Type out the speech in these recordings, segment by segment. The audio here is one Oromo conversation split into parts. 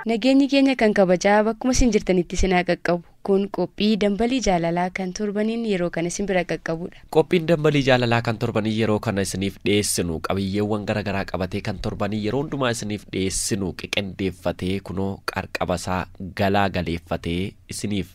Nageenyi keenya kan kabajaa bakkuma isin jirtanitti isin haa qaqqabu. Kun qophii dambalii jaalalaa kan torbaniin yeroo kana isin bira qaqqabudha. Qophiin dambalii jaalalaa kan torbanii yeroo kana isiniif dhiyeessinu qabiyyeewwan gara garaa qabatee kan torbanii yeroo hundumaa isiniif dhiyeessinu qiqindeeffatee kunoo qarqabasaa galaa galeeffatee isiniif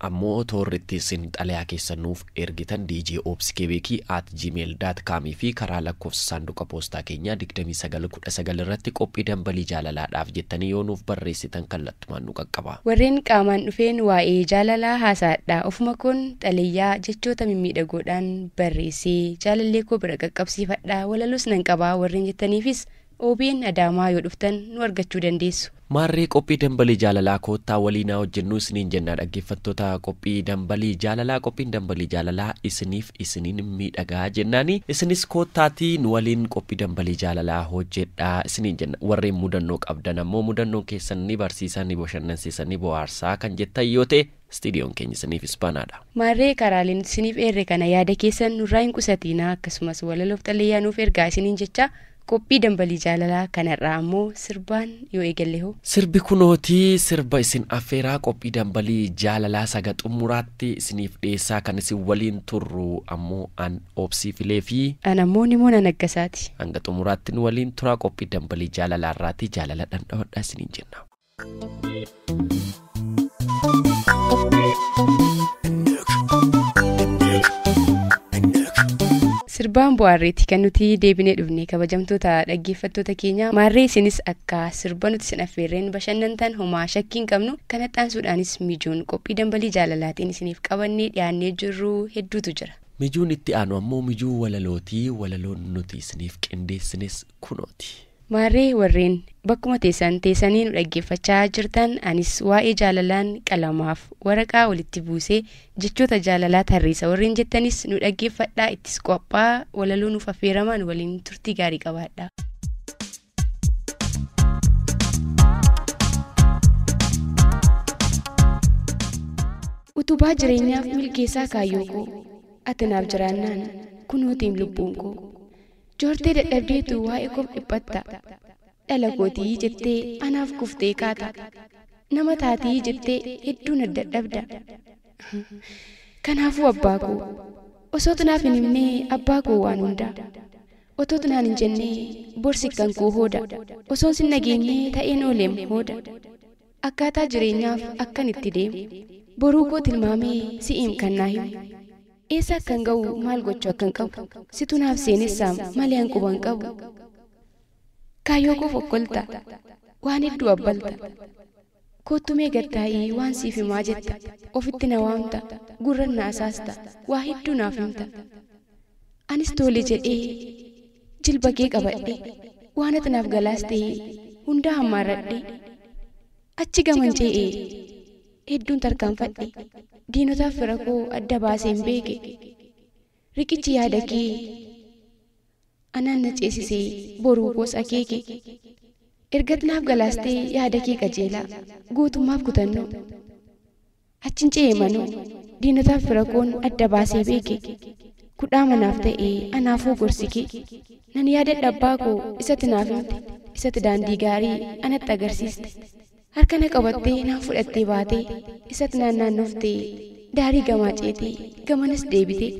Ammoo toorri itti issin xalayaa keessan nuuf ergitan djobskebeki at gmail dot com fi karaa lakkoofsa saanduqa poostaa keenyaa 2919 irratti qophii dambalii jaalalaa dhaaf jettanii yoo nuuf barreessitan kallattumaan nu qaqqaba. Warreen qaamaan dhufeen waa'ee jaalalaa haasa'adhaa ofuma koon xalayaa jechoota mimmiidhagoodhaan barreessee jaalallee koo bira qaqqabsiifadha walaloos nan qaba warreen jettaniifis Obn Adaamaa yoo dhuftan nu argachuu dandeessu. Maarree qophii Dambalii Jaalalaa koottaa waliin haa hojjennuu isiniin jenna dhaggeeffattoota qophii Dambalii Jaalalaa qophiin Dambalii Jaalalaa isiniif isiniin miidhaga jennaan isinis koottaatii nu waliin qophii Dambalii Jaalalaa hojjedhaa isiniin jenna warreen mudannoo qabdan ammoo mudannoon keessan ni barsiisa ni boshannansiisa ni bohaarsa kan jettan yoo ta'e Studion keenya isiniif isbanaadha. Maarree karaalee nuti isiniif eerre kana yaada keessan nurraa hin qusatiinaa akkasumas walaloof xalayaa nuuf ergaa isiniin jechaa Qophii dambalii jaalalaa kan har'aa ammoo sirbaan yoo eegalle hoo? Sirbi kunooti sirba isin affeeraa qophii dambalii jaalalaa saga xummuraatti isiniif dhiyeessaa kan isin waliin turru ammoo an Obsii Filee fi An ammoo Nimoona Naggasaati. hanga xumuraatti nu waliin turaa qophii dambalii jaalalaa irraati jaalala dhandhamadhaa isiniin jenna. sirbaan bu'aarreetti kan nuti deebinee dhufne kabajamtoota dhaggeeffattoota keenya maarree isinis akka sirba nuti isin affeerreen bashannantan homaa shakkiin qabnu kan haxaansuudhaanis mijuun qophii dambalii jaalalaatiin isiniif qabannee dhiyaannee jirru hedduutu jira. mijuun itti aanu ammoo mijuu walalootii walaloon nuti isiniif qindeessines kunooti. Maarree warreen bakkuma teessan teessanii nu dhaggeeffachaa jirtan anis waa'ee jaalalaan qalamaaf waraqaa walitti buusee jechoota jaalalaa tarreessa warreen jettanis nu dhaggeeffadhaa ittis qophaa walaloo nuuf affeeramaa nu waliin turtii gaarii qabaadhaa. Utubaa jireenyaaf milkeessaa kaayyoo koo ati naaf jiraannaan kunoo teem lubbuun koo. Joortee dadhabdeetu waa'ee koof dhiphatta. Dhala kooti jettee anaaf kuftee kaata. Nama taati jettee hedduu na dadhabda. Kanaafuu abbaa koo. Osootu naaf hin himnee abbaa koo waan hundaa. Otootu naan hin jennee bor sikkan koo hooda. Osoon sin dhageenyee ta'een ooleem hooda. Akkaataa jireenyaaf akkan itti deemu. Boruu koo tilmaamee si'iim kan naa himu. Eessa akkan ga'u maal gochuu akkan qabu situ naaf seenessaam malee an quba hin qabu. Kaayyoo koof okkolta waan hedduu abbalta koottu mee gad taa'ii waan siif himaa jetta ofitti na waamta gurran na asaasta waa hedduu naaf himta anis toole jedhee jilba kee qabadhee waan ati naaf galaas ta'ee hundaa hammaarradhee achi gaman cee'ee Hedduun tarkaanfadhe. Diinotaaf fira koo adda baaseen beeke. Riqichi yaada kee anaan na ceesisee boruu koos akeeke. Ergat naaf galaastee yaada kee qajeelaa gootummaaf kutannoo. Achin ce'e manoo diinotaaf fira koon adda baasee beeke. Kudhaama naaf ta'e anaafuu gorsi kee. Nan yaadadha abbaa koo isati naaf himte isati daandii gaarii anatti agarsiiste. Harka na qabattee naan fudhattee baatee isat naan naannoftee daarii gamaa ceetee gamanas deebitee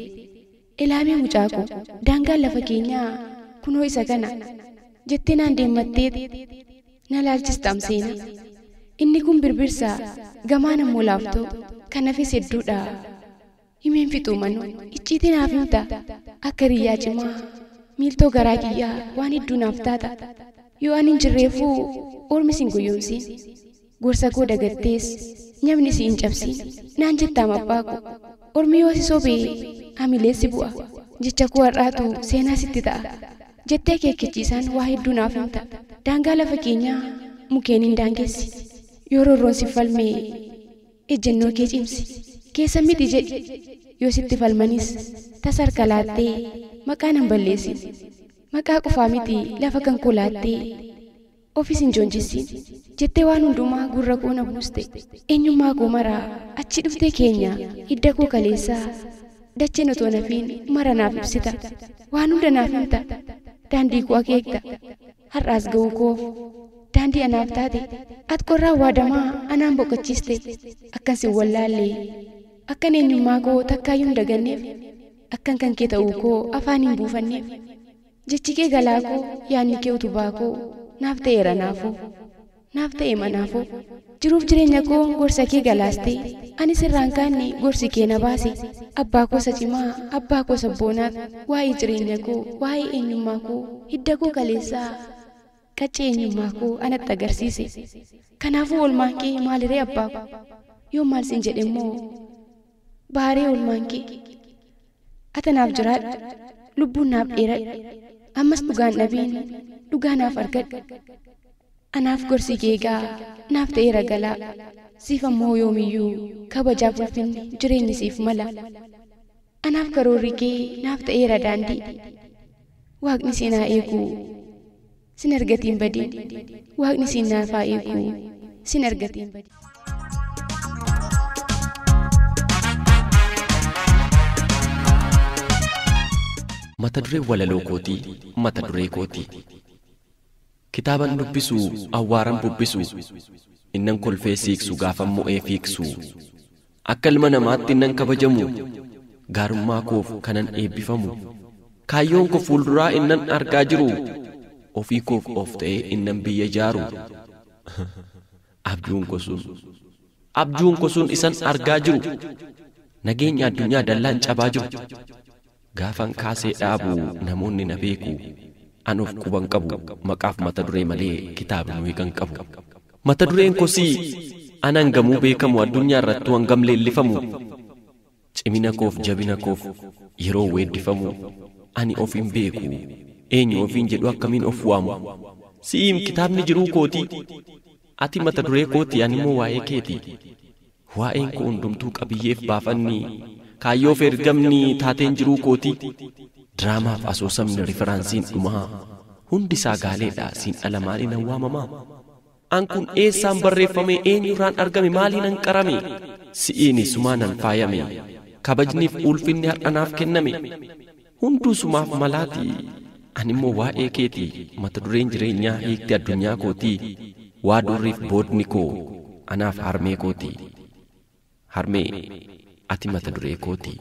ilaamee mucaa koo daangaan lafa keenyaa kunoo isa kana jettee naan deemmatteet na laalchistaam seenaa inni kun birbirsaa gamaan ammoo laaftoo kanafis hedduudhaa. Himeen fixuu mano icciitii naaf himta akka hiriyyaa cimaa miiltoo garaa kiyyaa waan hedduu naaf taata yoo anin jirreefuu ormi sin goyyomsiin gorsa koo dagattees nyabni si hin cabsiin naan jettaam abbaa ko ormi yoo si sobe hamilee si bu'a jecha koo har'aatu seenaa sitti ta'a jettee akeekkachiisaan waa hedduu naaf himta daangaa lafa keenyaa mukeeniin daangessi yoo roorroon sif falme Ejjennoo kee cimsi. Keessan miti jedhi. Yoo sitti falmanis tasa harka laattee maqaa nan balleessin. Maqaa qofaa miti lafa kan koo laattee ofis hin joonjessiin. Jettee waan hundumaa gurra koo na buuste. Eenyummaa koo mara achii dhuftee keenya hidda koo kaleessaa dacheen otoo hin hafiin mara naaf ibsita. Waan hunda naaf himta. Daandii koo akeekta. Har'a as ga'uu koof daandii anaaf taate. At qorraa waadamaa anaan boqochiiste. Akkan sin wallaalle, akkan eenyummaa koo takkaayyuu hin daganneef, akkan kan kee ta'uu koo afaan hin buufanneef. Jechi kee galaa koo, yaadni kee utubaa koo naaf ta'eera naafuu. naaf ta'e manaafuu jiruuf jireenya koo gorsa kee galaaste anis irraan kaanne gorsi kee na baase abbaa koo isa cimaa abbaa koo sabboonaat waa'ee jireenya koo waa'ee eenyummaa koo hidda koo kaleessaa qaccee eenyummaa koo anatti agarsiise kanaafuu oolmaan kee maaliree abbaa koo yoon maal sin jedhemmoo Baharee oolmaan kee. Ata naaf jiraadhu. Lubbuun naaf dheeradhu. Ammas dhugaan dhabiin dhugaa naaf argadhu. Anaaf gorsi kee egaa naaf ta'eera galaa. Siif ammoo yoomiyyuu kabajaaf ulfinni jireenyi siif mala. Anaaf karoorri kee naaf ta'eera daandii. Waaqni seenaa eeguu. Sin argatiin badii. Waaqni siin naaf haa eeguu. Sin argatiin badii. Mata dureen walaloo kootii mata duree kooti. Kitaaban dubbisu awwaaran bubbisu innan kolfee siiqsu gaafan mo'ee fiigsu Akka ilma namaatti nan kabajamu, gaarummaa koof kanan eebbifamu, kaayyoon koo fuulduraa innan argaa jiru, ofii koof of ta'ee innan biyya ijaaru. Abjuun koo sun, abjuun koo sun isan argaa jiru, nageenya addunyaa dallaan cabaa jiru, Gaafan kaasee dhaabu namoonni na beeku. An of quban qabu maqaaf mata duree malee kitaaba nu hiikan qabu. Mata dureen kosii an hangamuu beekamu addunyaa irrattuu hangam leellifamu cimina koof jabina koof yeroo weeddifamu ani of hin beeku eenyu ofiin jedhu akkamiin of waamu si'iim kitaabni jiruu kootii ati mata duree kootii animmoo waa'ee keetii. Waa'een koo hundumtuu qabiyyeef baafanni, kaayyoof ergamni, taateen jiruu kootii, diraamaaf asoosamni, riferaansiin dhumaa, hundi isaa gaaleedha, siin ala maaliinan waamamaa? An kun eessaan barreeffame, eenyurraan argame, maaliinan qarame? Si'iin isumaanan faayame, kabajniif uulfinni har'a naaf kenname. Hunduu sumaaf malaati. Animmoo waa'ee keeti mata dureen jireenyaa hiikti addunyaa kooti waa durriif boodni koo anaaf harmee kooti. Harmee ati mata duree kooti.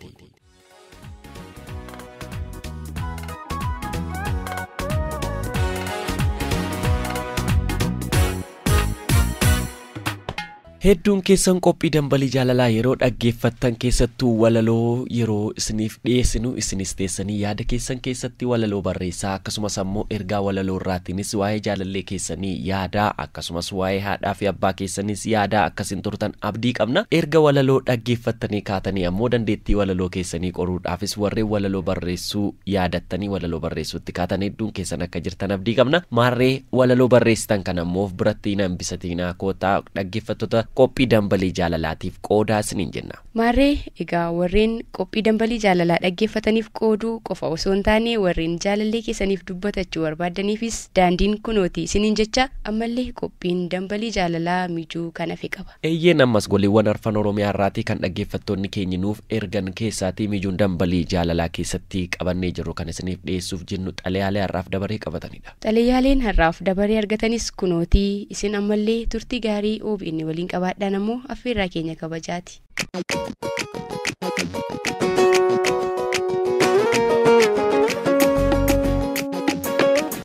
Hedduun keessan qophii Dambalii Jaalalaa yeroo dhaggeeffattan keessattuu walaloo yeroo isiniif dhiyeessinu isinis teessanii yaada keessan keessatti walaloo barreessaa akkasumas ammoo ergaa walaloo irraatiinis waa'ee jaalallee keessanii yaadaa akkasumas waa'ee haadhaa fi abbaa keessaniis yaadaa akka isin turtan abdii qabna. Erga walaloo dhaggeeffattanii kaatanii ammoo dandeettii walaloo keessanii qoruudhaafis warreen walaloo barreessuu yaadattanii walaloo barreessuutti kaatan hedduun keessan akka jirtan abdii qabna. Maarree walaloo barreessitan kana ammoo of biratti hin Satiinaa koottaa dhaggeeffattoota qophii dambalii jaalalaatiif qoodaa isiniin jenna. Maarree egaa warreen qophii dambalii jaalalaa dhaggeeffataniif qooduu qofa osoo hin taane warreen jaalallee keessaniif dubbatachuu barbaaddaniifis daandiin kunooti isiniin jecha ammallee qophiin dambalii jaalalaa mijuu kan hafe qaba. Eeyyeen ammas goliiwwan arfan Oromiyaa irraatii kan dhaggeeffattoonni keenyi nuuf ergan keessaatii mijuun dambalii jaalalaa keessatti qabannee jirru kan isiniif dhiyeessuuf jennu xalayaalee har'aaf dabaree qabatanidha. Xalayaaleen har'aaf dabaree argatanis kunooti. Isin ammallee turtii gaarii obn waliin qabaadhaan ammoo affeerraa keenya kabajaati.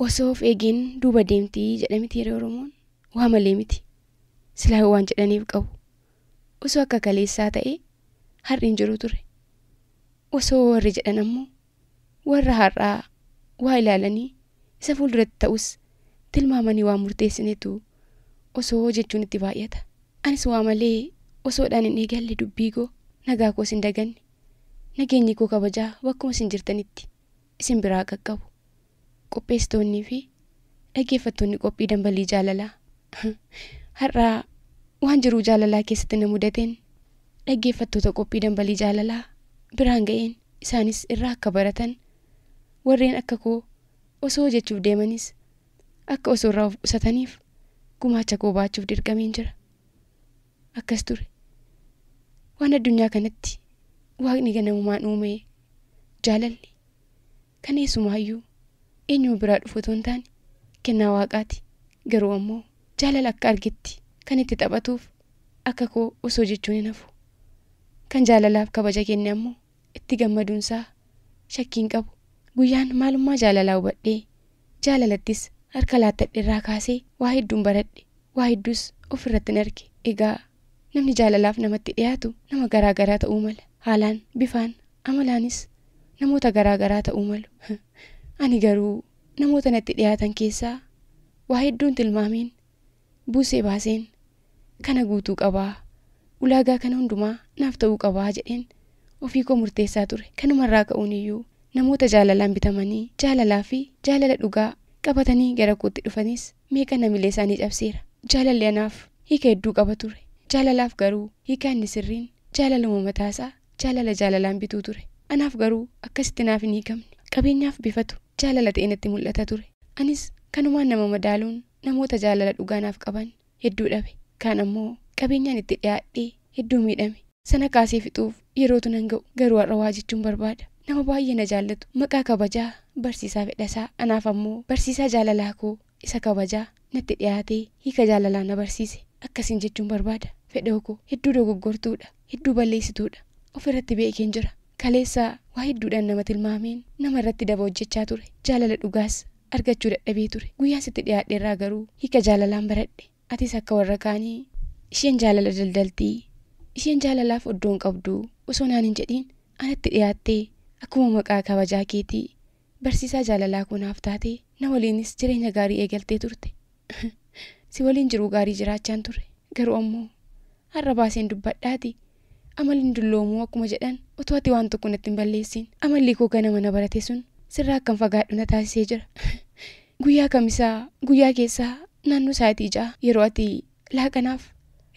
Osoo of eegeen duuba deemti jedha miti hiree Oromoon. Waa malee miti. Silaa waan jedhaniif qabu. Osoo akka kaleessaa ta'ee har'i hin jiru ture. Osoo warri jedhan ammoo Warra har'aa waa ilaalanii isa fuulduratti ta'us tilmaamanii waan murteessinetu osoo jechuun itti baay'ata. Anis waa malee osoodhaan hin eegalle dubbiikoo, nagaakoos hin daganne. Nageenyikoo kabajaa bakkuma isin jirtanitti isin biraa haa qaqqabu. Qopheessitoonnii fi dhaggeeffattoonni qophii Dambalii Jaalalaa har'a waan jiruu jaalalaa keessatti na mudateen dhaggeeffattoota qophii Dambalii Jaalalaa biraan ga'een isaanis irraa akka baratan warreen akka koo osoo hojechuuf deemanis akka osoo irraa of qusataniif gumaacha koo baachuuf dirqameen jira. Akkas ture. Waan addunyaa kanatti waaqni ganamumaan uumee jaalalli Kan eesumaayyuu, eenyuma biraa dhufu otoo hin taane, kennaa Waaqaati. Garuu ammoo jaalala akka argetti kan itti taphatuuf akka koo osoo jechuun hin hafu. Kan jaalalaaf kabaja kenne ammoo itti gammaduunsaa shakkii hin qabu. Guyyaan maalummaa jaalalaa hubadhee, jaalalattis harka laattadherraa kaasee waa hedduun baradhe, waa hedduus ofirrattin arge. Egaa Namni jaalalaaf namatti dhiyaatu nama garaa garaa ta'uu mala. Haalaan, bifaan, amalaanis namoota garaa garaa ta'uu malu. Ani garuu namoota natti dhiyaatan keessaa waa hedduun tilmaameen, buusee baaseen kana guutuu qaba, ulaagaa kana hundumaa naaf ta'uu qaba jedheen ofii koo murteessaa ture. Kanumarraa ka'uuniyyuu namoota jaalalaan bitamanii jaalalaafi jaalala dhugaa qabatanii gara kootti dhufanis Meeqa namilee isaanii cabseera. Jaalalli anaaf hiika hedduu qaba ture. Jaalalaaf garuu hiika inni sirriin jaalaluma mataa isaa jaalala jaalalaan bituu ture. Anaaf garuu akkasitti naaf hin hiikamne. Qabeenyaaf bifatu jaalala ta'ee natti mul'ata ture. Anis kanumaan nama madaaluun namoota jaalala dhugaa naaf qaban hedduu dhabe. Kaan ammoo qabeenyaan itti dhiyaadhee Hedduu miidhame. Sana kaasee fixuuf yerootu nan ga'u. Garuu har'a waa jechuun barbaada. Nama baay'ee na jaallatu, maqaa kabajaa Barsiisaa Fedhasaa. Anaaf ammoo barsiisaa jaalalaa koo isa kabajaa natti dhiyaatee hiika jaalalaa na barsiise. Akkasiin jechuun barbaada. Fedhoo koo, hedduu dogoggortuudha. Hedduu balleessituudha. Of irratti beekeen jira. Kaleessa waa hedduudhaan nama tilmaameen nama irratti daba hojjechaa ture. Jaalala dhugaas argachuu dadhabee ture. Guyyaan sitti dhiyaadherraa garuu hiika jaalalaan baradhe. Atis akka warra kaanii, Isheen jaalala daldalti, isheen jaalalaaf oddoo hin qabdu osoo naan hin jedhiin anatti dhiyaattee akkuma maqaa kabajaa keetii barsiisaa jaalalaa koo naaf taatee na waliinis jireenya gaarii eegaltee turte. Si waliin jiruu gaarii jiraachaan ture. Garuu ammoo har'a baaseen dubbadhaatii Amal hin dulloomu akkuma jedhan otoo ati waan tokko natti hin balleessiin amalli koo ganama na barate sun sirraa akkan fagaadhu na taasisee jira. Guyyaa kamisaa guyyaa keessaa naannoo sa'aatii ja'a yeroo ati laaqanaaf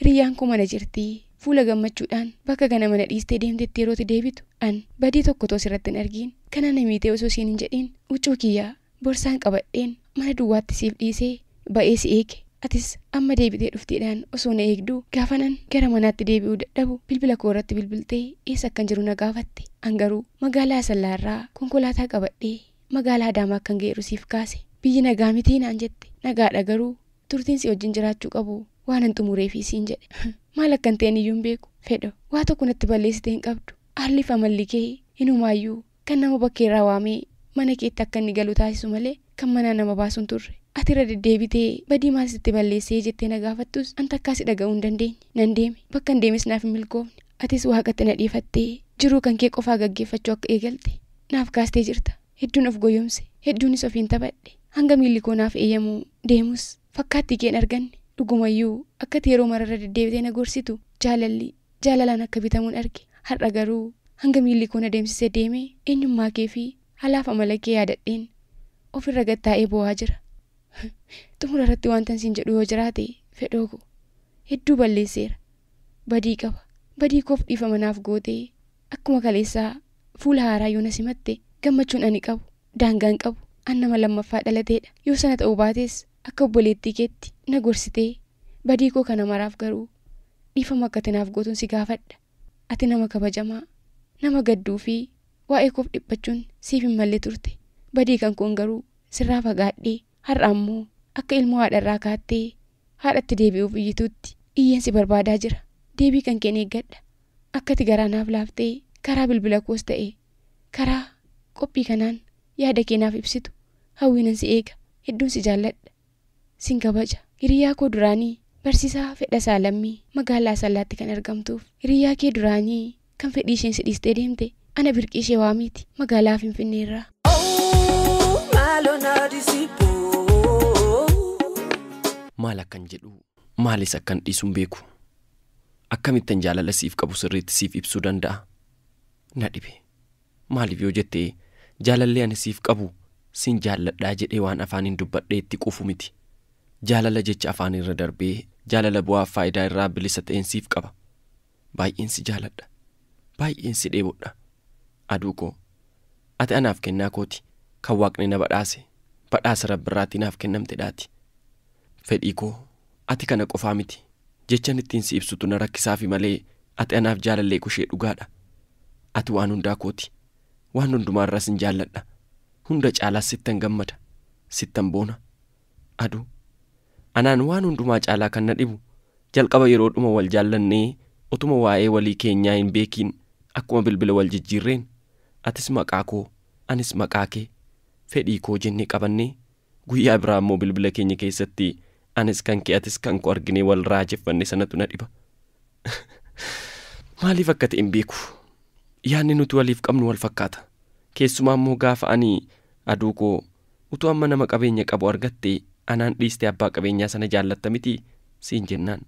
hiriyyaan koo mana jirti fuula gammachuudhaan bakka ganama na dhiistee deemtetti yeroo ati deebitu an badii tokko otoo sirratti hin argiin kanaa na miitee osoo siin hin jedhiin huccuu kiyya Borsaan qabadheen mana duwwaatti siif dhiisee ba'ee si eege. Atis amma deebitee dhufteedhaan osoo na eegduu gaafanan gara manaatti deebi'uu dadhabu bilbila koo irratti bilbiltee eessa akkan jiru na gaafatte. An garuu magaalaa Asallaa irraa konkolaataa qabadhee magaalaa Adaamaa akkan ga'eeru siif kaase. Biyyi nagaa mitii naan jette. Nagaadha garuu turtiin si wajjin jiraachuu qabu waanan xumureefi siin jedhe. Maal akkan ta'e aniyyuu hin beeku. Fedho. Waa tokko natti balleessite hin qabdu. Haalliif amalli kee inumaayyuu Kan nama bakkeerraa waamee mana keetti akka inni galu taasisu malee kan manaa nama baasu hin turre. Ati irra deddeebitee badii maal sitti balleessee jettee na gaafattus an takkaa si dhaga'uu hin dandeenye. Nan deeme. Bakkan deemes naaf hin milkoofne. Atis Waaqatti na dhiifattee jiruu kan kee qofaa gaggeeffachuu akka eegalte naaf kaastee jirta. Hedduun of goyomse. Hedduunis ofiin taphadhe. Hanga miilli koo naaf eeyyamu deemus fakkaattii kee hin arganne. Dhugumayyuu akka ati yeroo mara irra deddeebitee na gorsitu jaalalli Jaalalaan akka bitamuun arge. Har'a garuu hanga miilli koo na deemsisee deeme eenyummaa kee fi halaaf amala kee yaadadheen of irra gad taa'ee boo'aa jira. Xumura irratti wantan siin jedhu yoo jiraate Fedhoo ko, hedduu balleesseera. Badii qaba. Badii koof dhiifama naaf gootee akkuma kaleessaa fuula haaraa yoo na simatte gammachuun ani qabu daangaa hin qabu. An nama lammaffaa dhalateedha. Yoo sana ta'uu baates Akka obboleettii keetti na gorsitee, badii koo kana maraaf garuu dhiifama akka ati naaf gootun si gaafadha. Ati nama kabajamaa, nama gadduu fi waa'ee koof dhiphachuun siif hin malle turte. Badii kan koon garuu sirraa fagaadhee har'a ammoo akka ilmoo haadha irraa kaattee haadhatti deebi'uuf iyyituutti iyyeen si barbaadaa jira. Deebii kan keen eeggadha. Akka ati garaa naaf laaftee karaa bilbila koos ta'e karaa qophii kanaan yaada kee naaf ibsitu hawwiinan si eega. Hedduun si jaalladha. Sin kabaja. Hiriyaa koo duraanii Barsiisaa Fedhasaa Lammii magaalaa Asallaatti kan argamtuuf hiriyaa kee duraanii kan fedhii isheen si dhiistee deemte ana Birqiishee Waamiiti magaalaa Finfinneerraa. Awuu maaloo naa dhisiboo. Maal akkan jedhu maalis akkan dhiisu hin beeku. Akkamittan jaalala siif qabu sirriitti siif ibsuu danda'a? Na dhibe. Maaliif yoo jette, jaalalli ani siif qabu sin jaalladha jedhee waan afaaniin dubbadhee itti quufu miti. Jaalala jecha afaanii irra darbee jaalala bu'aaf faayidaa irraa bilisa ta'een siif qaba. Baay'een si jaaladha. Baay'een si dheebodha. Aduu koo. Ati anaaf kennaa kooti, kan Waaqni na badhaase, badhaasa Rabbi irraatii naaf kennamtedhaati. Fedhii koo. Ati kana qofaa miti. Jechan ittiin si ibsutu na rakkisaafi malee ati anaaf jaalallee kushee dhugaadha. Ati waan hundaa kooti. Waan hundumaa irra sin jaalladha. Hunda caalaas sittan gammada. Sittan boona. Adu. Anaan waan hundumaa caalaa kan na dhibu jalqaba yeroodhuma wal jaallannee otuma waa'ee walii keenyaa hin beekiin akkuma bilbila wal jijjiirreen atis maqaa koo anis maqaa kee fedhii koo jennee qabannee Guyyaa biraa ammoo bilbila keenya keessatti anis kan kee atis kan koo arginee wal raajeffanne sanatu na dhiba. Maaliif akka ta'e hin beeku. Yaadni nuti waliif qabnu wal fakkaata. Keessumaa ammoo gaafa ani aduu koo utuu amma nama qabeenya qabu argatte anaan dhiistee abbaa qabeenyaa sana jaallatta miti siin jennaan.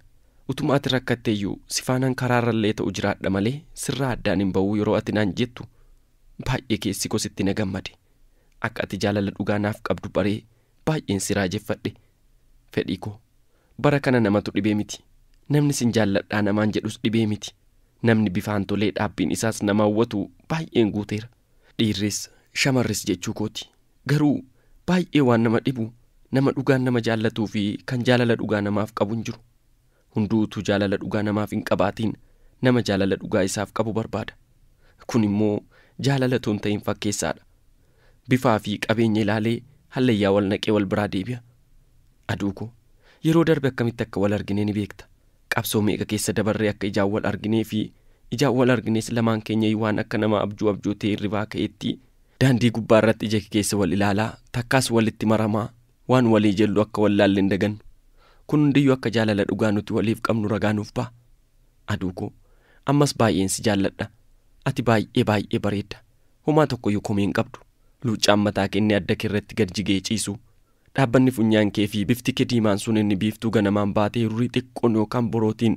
Utuma ati rakkatteeyyuu si faanan karaarrallee ta'u jiraadha malee sirraa addaan hin ba'uu yeroo ati naan jettu baay'ee keessi koo sitti na gammade. Akka ati jaalala dhugaa naaf qabdu baree baay'een si raajeffadhe. Fedhii koo. Bara kana namatu dhibee miti. Namni sin jaalladhaa namaan jedhus dhibee miti. Namni bifaan tolee dhaabbiin isaas nama hawwatu baay'een guuteera. Dhiirris, shamarris jechuu kooti. Garuu baay'ee waan nama dhibu nama dhugaan nama jaallatuu fi kan jaalala dhugaa namaaf qabu hin jiru. Hunduu utuu jaalala dhugaa namaaf hin qabaatiin nama jaalala dhugaa isaaf qabu barbaada. Kun immoo jaalala utuu hin ta'in fakkeessaa dha. Bifaa fi qabeenya ilaalee hallayyaa wal naqee wal biraa deebi'a. Aduu koo! Yeroo darbe akkamitti akka wal argine ni beekta. Qabsoo meeqa keessa dabarree akka ijaan wal arginee fi ijaan wal argines lamaan keenyayyuu waan akka nama abjuu abjootee hirribaa ka'eetti daandii gubbaa irratti ija kekeessa wal ilaalaa takkaas walitti maramaa Waan walii jellu akka wallaalle hin dagannu. Kun hundiyyuu akka jaalala dhugaa nuti waliif qabnu ragaa nuuf baha. Aduu koo, ammas baay'een si jaalladha. Ati baay'ee baay'ee bareedda. Homaa tokkoyyuu komii hin qabdu. Luuccaan mataa kee inni adda kee irratti gad jigee ciisu, dhaabbanni funyaan kee fi bifti kee diimaan sun inni biiftuu ganamaan baatee hirurii xiqqoon yookaan borootiin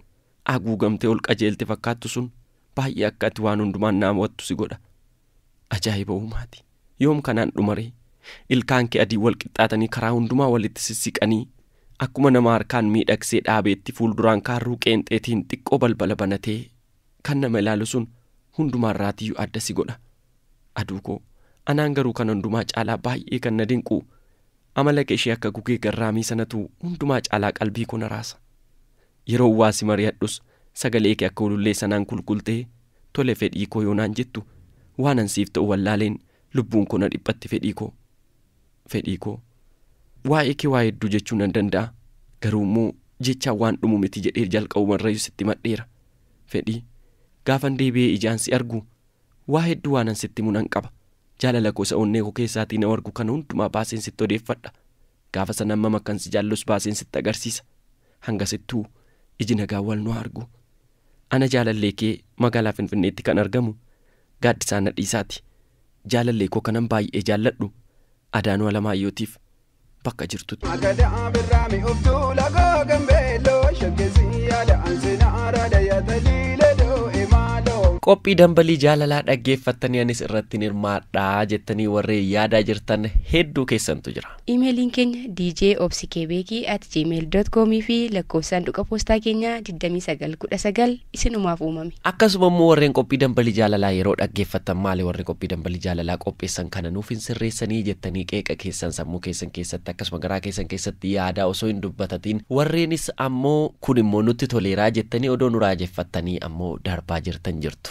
aguugamtee ol qajeelte fakkaattu sun baay'ee akka ati waan hundumaan na hawwattu si godha. Ajaa'iba uumaati. Yoom kanaan dhuma ree? Ilkaan kee adiin wal qixxaatanii karaa hundumaa walitti sissiqanii, akkuma nama harkaan miidhagsee dhaabeetti fuulduraan kaarruu qeenxeetiin xiqqoo balbala banatee kan nama ilaalu sun hundumaa irraatiyyuu adda si godha. Aduu koo, anaan garuu kana hundumaa caalaa baay'ee kan na dinqu, amala kee ishee akka gugee garraamii sanatu hundumaa caalaa qalbii koo na raasa. Yeroon waa si mari'adhus sagaleekee akka ulullee sanaan kulkultee tole fedhiikoo yoo naan jettu waanan siif ta'u wallaaleen lubbuunkoo na dhiphatti fedhiikoo. Fedhiikoo. Waa'eekee waa hedduu jechuu nan danda'a garuummoo jechaan waan dhumu miti jedhee jalqabumarrayyuu sitti himadheera. Fedhii. Gaafan deebi'ee ijaan si argu waa hedduu waanan sitti himu nan qaba. Jaalalakoo isa onneekoo keessaatii na wargu kana hundumaa baaseen sitti odeeffadha. Gaafa san hammam akkan si jaallus baaseen sitti agarsiisa. Hangasittuu iji nagaan wal nu haa argu. Ana jaalallee kee magaalaa Finfinneetti kan argamu Gaaddisaa Nadhiisaati. Jaalallee koo kanan baay'ee jaalladhu Adaanuu Alamaayyootiif bakka jirtutti. Agadaa birraa mi'ooftuu lagaa gambeelloo shaggessii yaada ansina araada yaataliile doo'e maaloo. Qophii dambalii jaalalaa dhaggeeffattanii anis irratti hirmaadhaa jettanii warreen yaadaa jirtan hedduu keessan argattu jira. Iimeeliin keenya djobsikebeeki at gmail dot com fi lakkoofsi saanduqa poostaa keenyaa 2919 isinumaaf uumame. Akkasuma immoo warreen qophii dambalii jaalalaa yeroo dhaggeeffattan maali warri qophii dambalii jaalalaa qopheessan kana nuuf hin sirreessanii jettanii qeeqa keessan sammuu keessan keessatti akkasuma garaa keessan keessatti yaadaa osoo hin dubbatatiin warreenis ammoo kun immoo nutti toleeraa jettanii odoo nu raajeffattanii ammoo darbaa jirtan jirtu.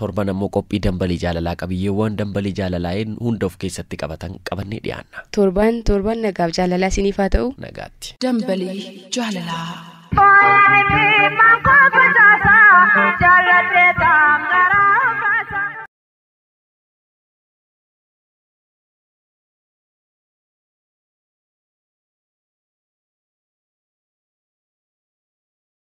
Torban ammoo qophii Dambalii Jaalalaa qabiyyeewwaan Dambalii Jaalalaaiin hunda of keessatti qabatan qabannee dhiyaanna. Torbaan torban nagaaf jaalalaa isiniif haa ta'u. Nagaatti. Dambalii Jaalalaa.